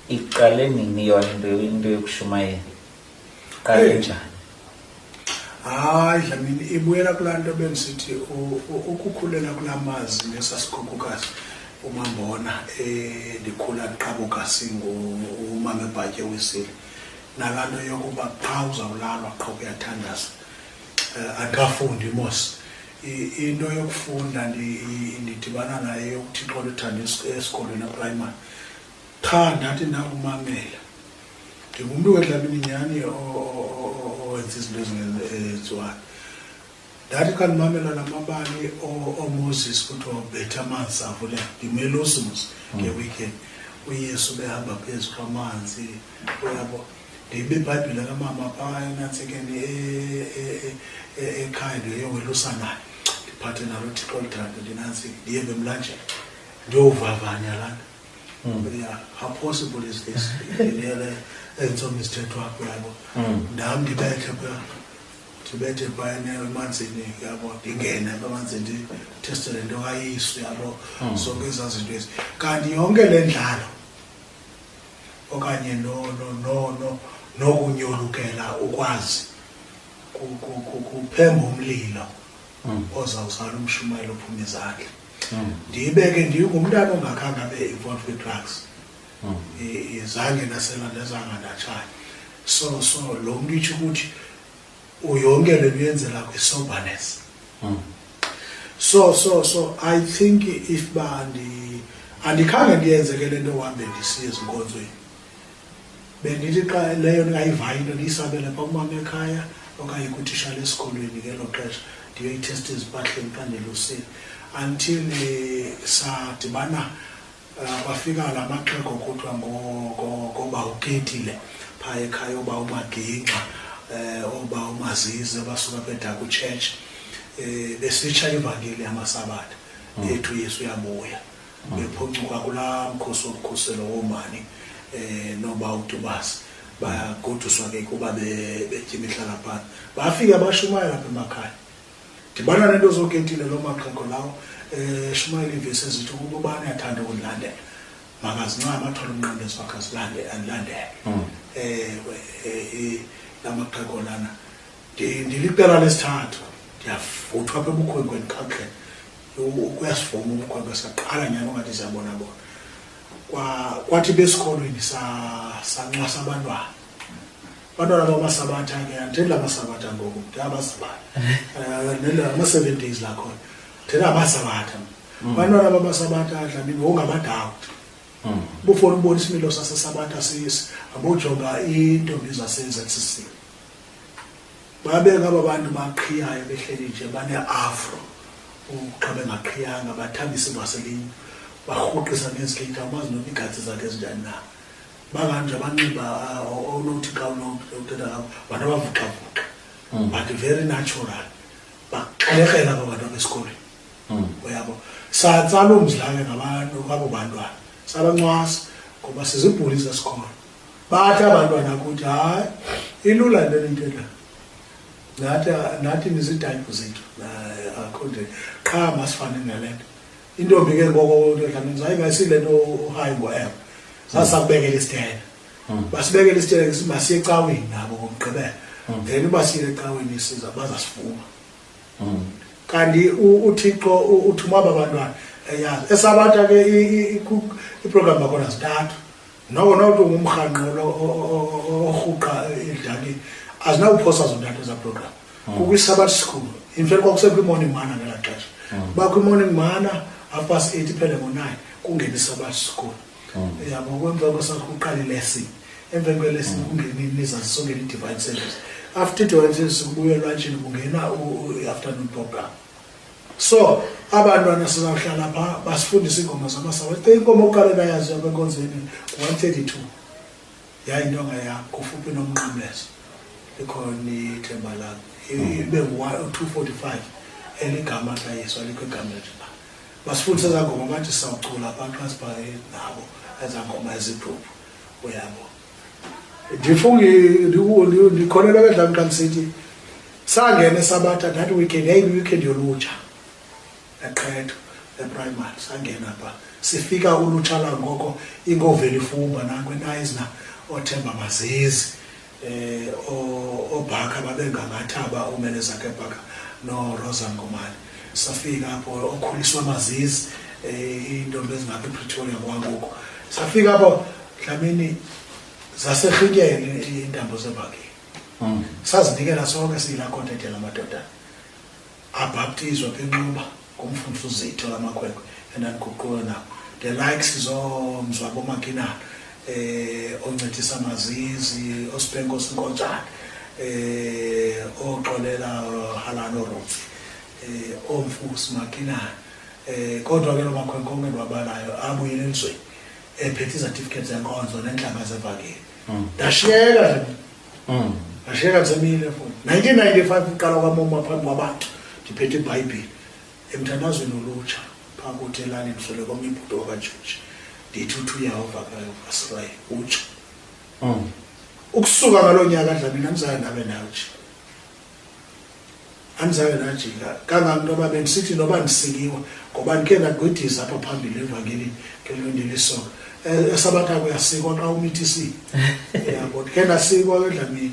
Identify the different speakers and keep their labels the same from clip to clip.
Speaker 1: iqale nini yona into into yokushumayela iqale eh. njani
Speaker 2: hayi dlamini ibuyela kulaa nto bendisithi ukukhulela kulaa mazi nesasigugukazi umambona eh, ndikhula ndiqabuka singumama ebhatye wisile nalaa nto yokuba qha uzawulalwa qha kuyathandaza um eh, andikafundi mos into yokufunda ndidibana naye yokuthixo luthanda esikolweni eprimary qha ndathi ndakumamela ndingumntu wedlamini nyhani owenza izinto ezingenziwayo ndathi xa ndimamela la mabali omoses kuthiwa ubethe amanzi avule ndimela usimus ngeweekend uyesu behamba phezu kwamanzi uyabo ndibe ibhayibhile kamama phaa enantsekeni ekhaya ndiyowelusanayo ndiphathe nalo thixo lithande ndinantsiki ndiye bemlanjeni ndiyowuvavanya lana hmm. ya how possible is this ndilele entsomi isithetho wakho yabo hmm. ndam ndibethe phaa ndibethe phayana emanzini yabo ndingene emanzini ndithestele into kayisu yabo hmm. zonke ezaa zinto ezi kanti yonke le ndlalo okanye nokunyolukela ukwazi kuphemba umlilo hmm. ozawuzala umshumayelo ophuma izandla hmm. ndibe ke ndingumntana ongakhange abe involved kwi-drugs hmm. izange nasela nezangandatshana so so lo mntu itsho ukuthi uyonke le uyenzela kwi-soberness hmm. so so so i think if ba andikhange ndiyenze ke le nto uhambe ndisiye ezinkonzweni bendithi xa leyo ndingayivayo into ndiyisabele pha kumama ekhaya okanye kutishale esikolweni ngelo xesha ndiyoyithesta ezipahleni xa ndilusile until eh, sadibana kwafika la maxhego kuthiwa ngoba uketile phaa ekhaya oba umagingxa um oba umazize basuka bedaku church um eh, besitsha ivangeli yamasabatha hmm. ethu yesu uyabuya hmm. bephuncuka kulaa mkhosi womkhuselo woomani um noba utubasi bagoduswa ke kuba betya imihlala phana bafike bashumayela apha emakhaya ndibana nento zoketile loo maxhego lawo um eh, shumayela iivesi ezithi ukuba ubani athanda ukundilandela makazincama athole umnqandezi wakhe andilandele um hmm. eh, eh, la maxhego lana ndiliqela lesithathu ndiyavuthwa apha ebukhwenkweni kakuhle kuyasivuma ubukhwenkwe saqala nyani ungathi siyabona bona kwathi besikolweni sanxwasa abantwana abantwana bamasabatha ke anditheli lamasabatha ngoku ndithe abasabatha eh, ama-seven days lakhona ndithela abasabatha mm. abantwana bamasabatha dlamini ngokungabadawu mm. bufona ubona isimilo sasesabatha sisi abojonga iintombi zase-zcc babeka aba bantu baqhiyayo behleli nje bane-afro xa bengaqhiyanga bathambise ivaselinye barhuqisa ngezikeyita amazi noba iigatsi zakhe ezinjani na babantu abanxiba uh, onothi xa unothetha ngabo bantu abavuxavuxa hmm. but very natural baxelekela aba bantu abesikolweni hmm. uyabo satsaloo mzilane ngabantu abo bantwana sabancwasa ngoba sizibhuli zesikolo bathi abantwana kuthi hayi ilula into enintela nathi nathi nizidayibhu zethu akho nje qha masifane nale nto intombi ke ngoko ndodlamini zaye ngasile nto uhayi ngoewe sasakubekela isitena hmm. basibekela isitena masiye ecaweni nabo ngomgqibela hmm. then uba siye ecaweni siza bazasifuma hmm. kanti uthixo uthuma aba bantwana eyazi esabata ke iprogram bakhona zintathu noko nokuthi ungumrhanqolo orhuqa idlali azinawuphosa zontathu eza program hmm. kukwisabat school infact kwakusekwimorning mana ngelaa xesha hmm. uba kwimorning mana afast eight iphele ngo-nine kungena isabat school hmm. yabo kwemva kwesakuqala ilesson emveni kwelesson kungeni nizazisongela i-divine service after i-divine service kubuyelwa ntshini kungena i-afternoon program so abantwana sizawuhlala pha basifundise iingoma zamasawa te inkomo oqale nayazi apha enkonzweni one thirty two yayintonga yam kufuphi nomnqamlezo likhona ithemba lam ibe ngu-two forty five eligama tlayiswa likho igama lethu na basifundise ezaa ngoma bathi sawucula abantu asibhale nabo ezaa ngoma ezidruphu uyabo ndifungi ndikholelwa bedlam xa ndisithi sangene sabatha that weekend yayiyi-weekend yolutsha eqhetho eprimary sangena pha sifika ulutsha langoko ingoveli fumba nakwenayizna othemba mazizi um obhaka babengangathaba umelezakhe bhaka norosa ngomane safika apho okhuliswa amazizi um eh, iintombi ezingapha epretoria kwangoku safika apho dlamini zaserhityele iintambo zebhakini hmm. sazinikela sonke siyilakhontethe la madoda abhaptizwa benxuba ngumfundisi uzitho lamakhwenkwe endandiguquke nabo the likes zomzwa bomakinana eh oncedisa mazizi osibhenko sinkotshana eh oxolela halano rofi eh omfusi makinana eh kodwa ke lomakhwenkwe onke lwabalayo abuyile elizweni ephethe izatifiketi zenkonzo nentlanga zevakeli hmm. ndashiyeka nje hmm. ndashiyeka ndisemile futhi 1995 uqala kwamoma phambi kwabantu ndiphethe ibhayibhile emthandazweni olutsha phaa kuthi elalini mswele kwam ibhuti wakajoji ndithi uthi uyawuvakalayo asirayi utsha oh. ukusuka ngaloo nyaka dlamini andizange ndabe ndawutsha andizange ndajika kanganto uba bendisithi noba ndisiliwa ngoba ndikhe ndagwidisa apha phambili evangelini ngelondilisoka eh, esabatha kuyasikwa xa umithisiwe yabo ndikhe ndasikwa ke dlamini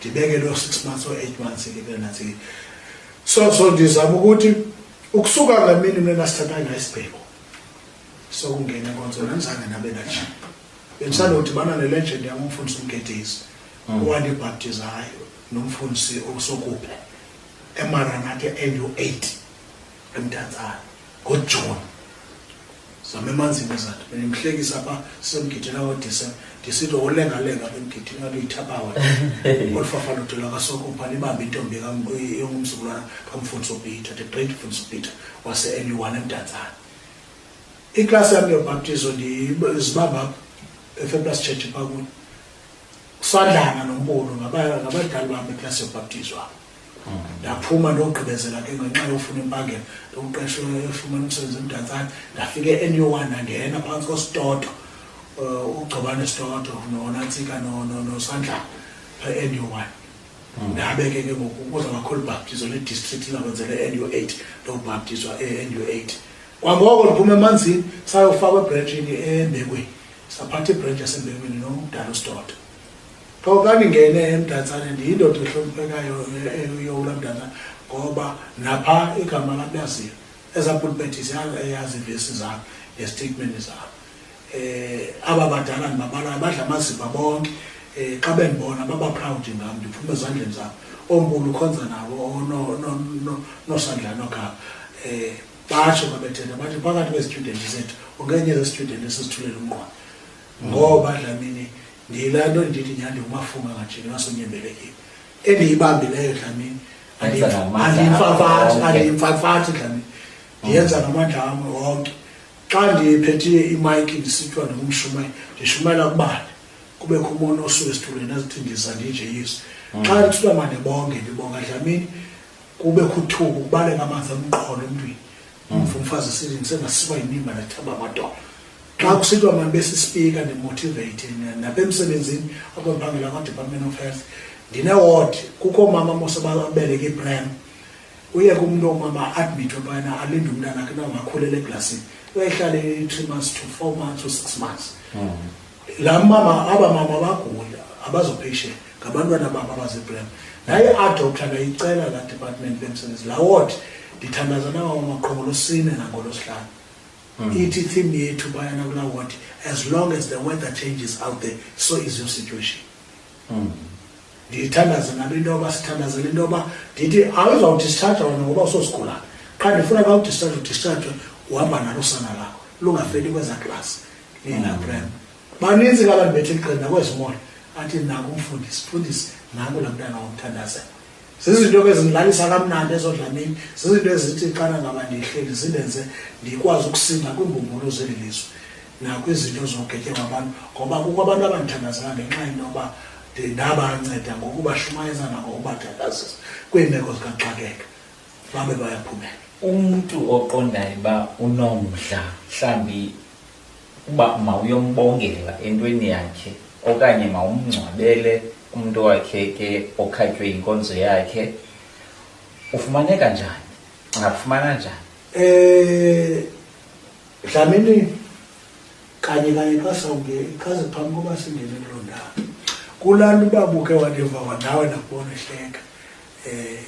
Speaker 2: ndibeke loo six months or eight months ndibeke nantsini so so ndizama ukuthi ukusuka ngalaa mini mna nasithatha ngayo isibheko sokungena enkonzweni andizange nabe najini bendisandodibana nelegend yam umfundisi umgedisi hmm. owandibhaptizayo nomfundisi osokuphe emaranathe endu-eight emntantsana ngoJuni zama emanzini ezanto bendimhlekisa pha sisemgidini awodisa ndisithi wolengalenga bemgidini ngabe yithabawa olu fafana udela kasoko pha libambe intombi yongumzukulwana kamfundisi upeter the great mfundisi upeter wase-n u one emntantsana iklasi yam yobhaptizo ndizibamba efeplas church pha kuyo kusandlana nombulo ngabadlali bam iklasi yobhaptizo apho ndaphuma ndogqibezela ke ngenxa yofuna impangela ndiwuqeshe efumana umsebenzi emdantsane ndafike enew one ndangena phantsi kwesitoto um eh, ugcobane sitoto nonantsika nosandlana pha enew one hmm. ndabe ke ke ngoku kuza kakhulu ubhaptizo ledistrict lakwenzela enew eight ndobhaptizwa enew eight kwangoko ndiphuma emanzini sayofakwa ebrentshini embekweni saphatha ibhrentshi yasembekweni nomdala usitoto qho xa ndingene emdantsane ndiyindoda ehloniphekayo eyowula mdantsane ngoba napha igama lam yaziyo ezaa pulpeti yazivesi zam nestatementi zam um aba badala ndibabalayo badla amaziva bonke um xa bendibona babaphrawudi ngam ndiphume ezandleni zam onkulu ukhonza nabo nosandlani ogama um batsho babethetha bathi phakathi kwezitudenti zethu ungenye zezitudenti esizithulela umqwana ngoba dlamini ndiyilaa nto ndithi nyhandi umafunga ngajini wasonyembelekile endiyibambileyo dlamini andiyimfafathi andiyimfafathi dlamini ndiyenza ngamandla wam wonke xa ndiphethiye imayiki ndisithiwa ndingumshumayeli ndishumayela kubani kubekho umona osuke esithulweni azithi ndiza ndinje yesu mm. xa ndithiwa mandibonge ndibonga dlamini kubekho uthuku kubaleka amanzi amqholo emntwini mm. umva umfazi esithi ndisengasikwa yinimba ndathamba amadola xa kusithiwa mandibe sispika ndimotiveyithe napha emsebenzini apho ndiphangela kwadepartment of health ndineward kukho mama mose babeleke ibrem uye kumntu omama admithwe phana alinde umntana ke nangakhulele eglasini uyayihlale i-three months to four months to six months hmm. la mama aba mama bagula abazopatient ngabantwana babo abazibrem naye adoctor ngayicela la department bemsebenzi la ward ndithandaza nawo maqhongolosine nangolosihlanu mm. ithi theme yethu bayana kula ward as long as the weather changes out there so is your situation mm. ndiyithandaze nabo into yoba sithandazele into yoba ndithi awuzawudischarja wena ngoba usosigulana qha ndifuna ka udischarje udischarjwe uhamba nalo usana lakho lungafeli kweza klasi linaprem mm. baninzi kabantu bethe iqini nakwezimoya athi naku umfundisi fundisi naku la mntana wamthandazela zizinto ke zindilalisa kamnandi ezo dlamini zizinto ezithi xana ngaba ndihleli zindenze ndikwazi ukusinda kwiimbumbulu zeli lizwe nakwizinto zogetye kwabantu ngoba kukho abantu abandithandazela ngenxa yento yoba ndabanceda ngokubashumayeza nangokubathandazisa kwiimeko zikaxakeka babe bayaphumela umntu
Speaker 1: oqondayo uba unomdla mhlawumbi uba mawuyombongela entweni yakhe okanye mawumngcwabele umntu wakhe ke okhatywe yinkonzo yakhe ufumaneka njani ungafumana njani eh
Speaker 2: dlamini kanye kanye xa sawunge ichaze phambi koba singene kuloo ndawo kulaa nto uba buke wandiva wanawe nakubona ehleka um eh,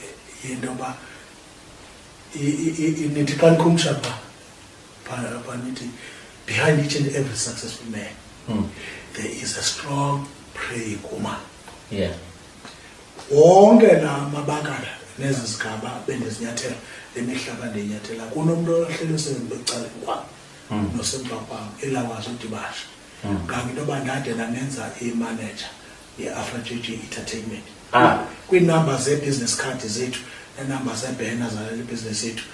Speaker 2: yinto yoba nithi xa nikhumsha phaa Behind each and every successful man, mm. there is a strong praying woman. Yeah. Wonke la mabakala nezi zigaba bendizinyathela le mihlaba ndiyinyathela kunomntu ohleli usebecaleni kwam hmm. nosemva kwam elawazi udibasha hmm. kanti into yoba ndade ndandenza imanager ye-afra g g entertainment ah. kwiinumber zee-business card zethu neenumber zeebhena zaleli bhizinesi yethu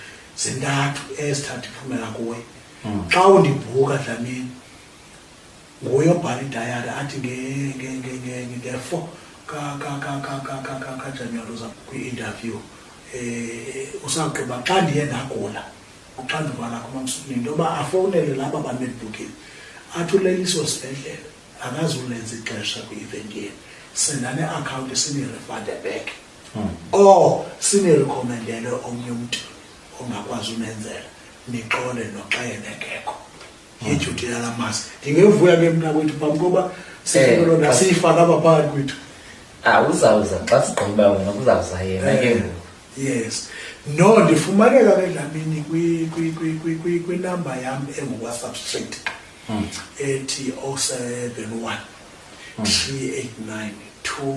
Speaker 2: zintathu ezithatha iphumela kuwe hmm. xa undibhuka dlamini nguye obhala idayari athi nge-four kajanuwari uza kwi-interview um eh, usagqiba xa ndiye ndagula uxanduva lakho mamsukuni into yoba afowunele laba banedibhukile athi uleliso sibhedlele akazulenza ixesha kwi-event yenu sendane-akhawunti sinirefande back hmm. or sinerekhomendele omnye umntu ongakwazi unenzela nixole noxa yena engekho hmm. yidyuti yala masi ndingevuya ke mna kwethu phambi koba sifelo eh, nasiyifaka apha phakathi kwethu ah, uzawuza
Speaker 1: xa sigqiba wena kuzawuza yena ke eh, ngoku yes
Speaker 2: no ndifumaneka ke dlamini kwinamba yam engukwasubstrate hmm. ethi 071 389 2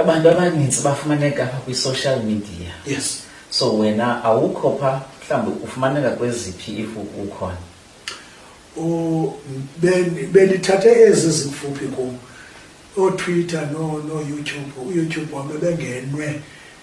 Speaker 1: abantu abaninzi bafumaneka apha kwi-social media yes so
Speaker 2: wena
Speaker 1: awukho pha mhlawumbi ufumaneka kweziphi if ukhona
Speaker 2: belithathe ezi zikufuphi kum ootwitter nooyoutube no uyoutube wam ebengenwe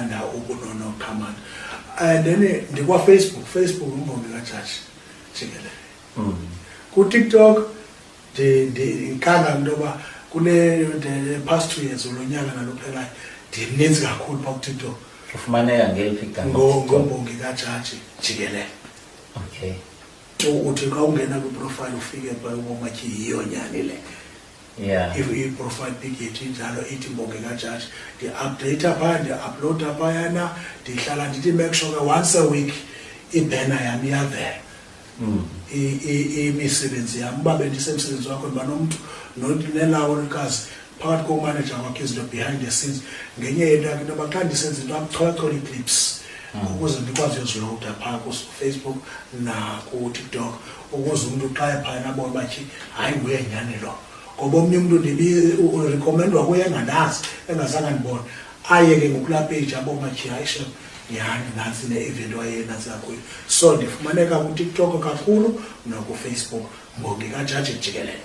Speaker 2: under ubunono command and then eh, ndikwafacebook facebook umbongi kajaji jikelele mm. kutiktok ndikhala into yoba kule past two years ulo nyaka nalophelayo ndininzi kakhulu pha kutiktok ufumaneka ngeliphi
Speaker 1: ngombongi kajaji
Speaker 2: jikelele
Speaker 1: okay
Speaker 2: uthi xa ungena kwiprofile ufike pha ubomatyhi yiyo nyani le yeah. if
Speaker 1: iprofile
Speaker 2: picket injalo ithi mbonge kajaji ndiupdata phaya ndiuploada phayana ndihlala ndithi make sure once a week ibhena yam iyavela mm. imisebenzi yam uba bendisemsebenzi wakho ndiba nomntu nelawo likazi phakathi komanager wakhe izinto behind the scenes ngenye yento yakhe into yoba xa ndisenza into amcholachola iclips mm. ukuze ndikwazi uyoziloda phaa kufacebook nakutiktok ukuze umntu xa ephayana abone uba tyi hayi nguye nyhani lo ngoba omnye umntu ndibirekomendwa kuye engandazi engazange ndibone aye ke ngokulaa peji abone uba tyi hayi shem nyhani nantsi ne-event wayenantsi kakhulu so ndifumaneka kutiktok kakhulu nokufacebook mbongi kajaji jikelele